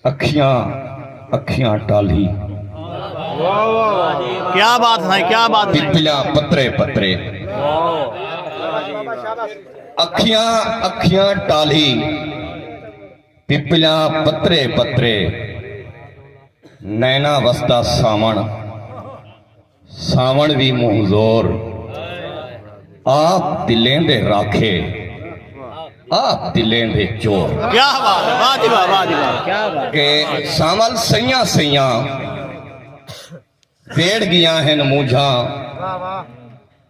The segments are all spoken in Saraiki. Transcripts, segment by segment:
اکھیاں اکھیاں ٹالھی۔ پپلا پترے پترے۔ اکھیاں اکھیاں ٹالھی۔ پپلا پترے پترے۔ نینا وسدا ساوݨ۔ ساوݨ وی مونہہ زور آپ دلیں دے راکھے آپ دلیں دے چور کہ سانول سیاں سیاں ویڑ گیاں ہن مونجھاں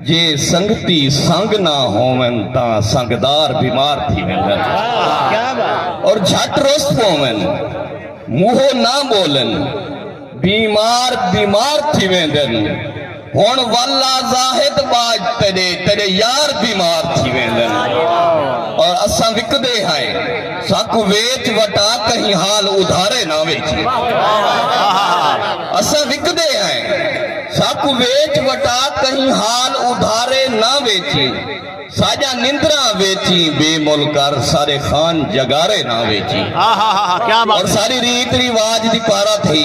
جے سنگتی سنگ نہ ہوون تاں سنگدار بیمار تھی ویندن اور جھٹ رست پوون موہو نہ بولن بیمار بیمار تھی ویندن ہن والا زاہد باج تیڈے تیڈے یار بیمار تھی ویندن اور اساں وکدے ہیں ساکوں ویچ وٹا کہیں حال ادھارے نہ ویچے اساں وکدے ہیں ساکوں ویچ وٹا کہیں حال ادھارے نہ ویچے ساجا نندرا ویچی بے مل کر سارے خان جگارے نہ ویچی اور ساری ریت ریواج دی پارا تھی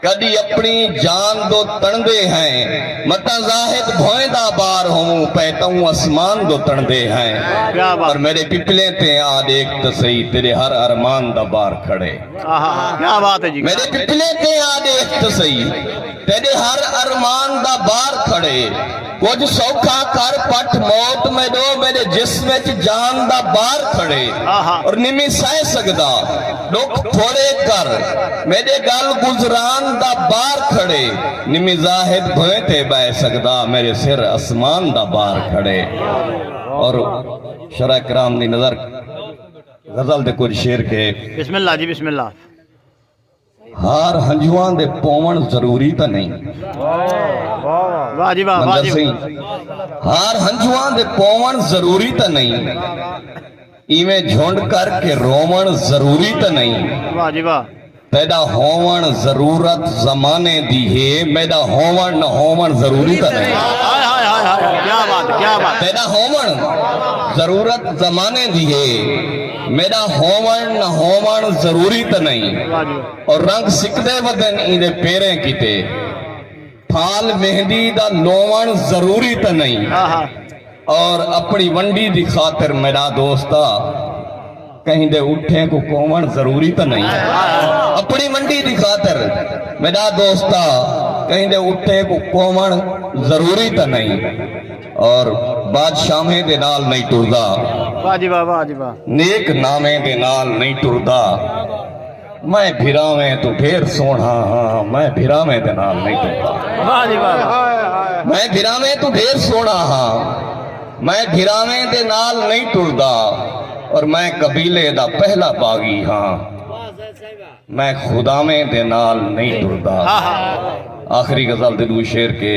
کڈی اپنی جان دو تنڑدے ہیں متاں زاہد بھوئیں دا بار ہوں پے تہوں اسمان دو تنڑدے ہیں پر میرے پپلیں تے آ دیکھ تے سہی تیرے ہر ارمان دا بار کھڑے میرے پپلیں تے آ دیکھ تے سہی تیرے ہر ارمان دا بار کھڑے کجھ سوکھا کر پٹھ موت میڈو میڈے جسم اچ جان دا بار کھڑے اور نمی سہ سکدا ڈکھ تھوڑے کر میڈے گل گزران دا بار کھڑے نمی زاہد بھویں تے بہ سکدا میرے سر اسمان دا بار کھڑے اور شرع کرام دی نظر غزل دے کچھ شیر کے بسم اللہ جی بسم اللہ ہار ہنجواں دے پوون ضروری تاں نئیں منظر سئیں ہار ہنجواں دے پوون ضروری تاں نئیں ایویں جھنڈ کر کے روون ضروری تاں نئیں پیدا ہوون ضرورت زمانے دی ہے میڈا ہوون نہ ہوون ضروری تاں نئیں پیدا ہوون ضرورت زمانے دی ہے میݙا ہووݨ نہ ہووݨ ضروری تاں نئیں او رنگ سکدے ودن ایندے پیریں کیتے پھال مہندی دا لووݨ ضروری تاں نئیں او اپݨی ونڈی دی خاطر میݙا دوستا کہیں دے اٹھیں کوں کووݨ ضروری تاں نئیں اپݨی ونڈی دی خاطر میݙا دوستا کہیں دے اٹھیں کوں کووݨ ضروری تاں نئیں اور بادشاہیں دے نال نئیں ٹردا واہ جی واہ واہ جی واہ نیک ناویں دے نال نئیں ٹردا میں بھراویں تو ڈھیر سونا ہاں میں بھراویں دے نال نئیں ٹردا واہ جی واہ میں بھراویں تو ڈھیر سونا ہاں میں بھراویں دے نال نئیں ٹردا اور میں قبیلے دا پہلا باغی ہاں میں خداویں دے نال نئیں ٹردا ہاں، ہاں۔ آخری غزل دے دو شعر کے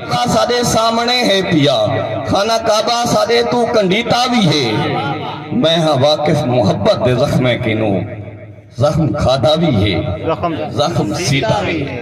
کعبہ ساݙے سامݨے ہے پیا خانہ کعبہ ساݙے توں کنڈیتا وی ہے میں ہاں واقف محبت دے زخمیں کنوں زخم کھادا وی ہے زخم سیتا وی ہے۔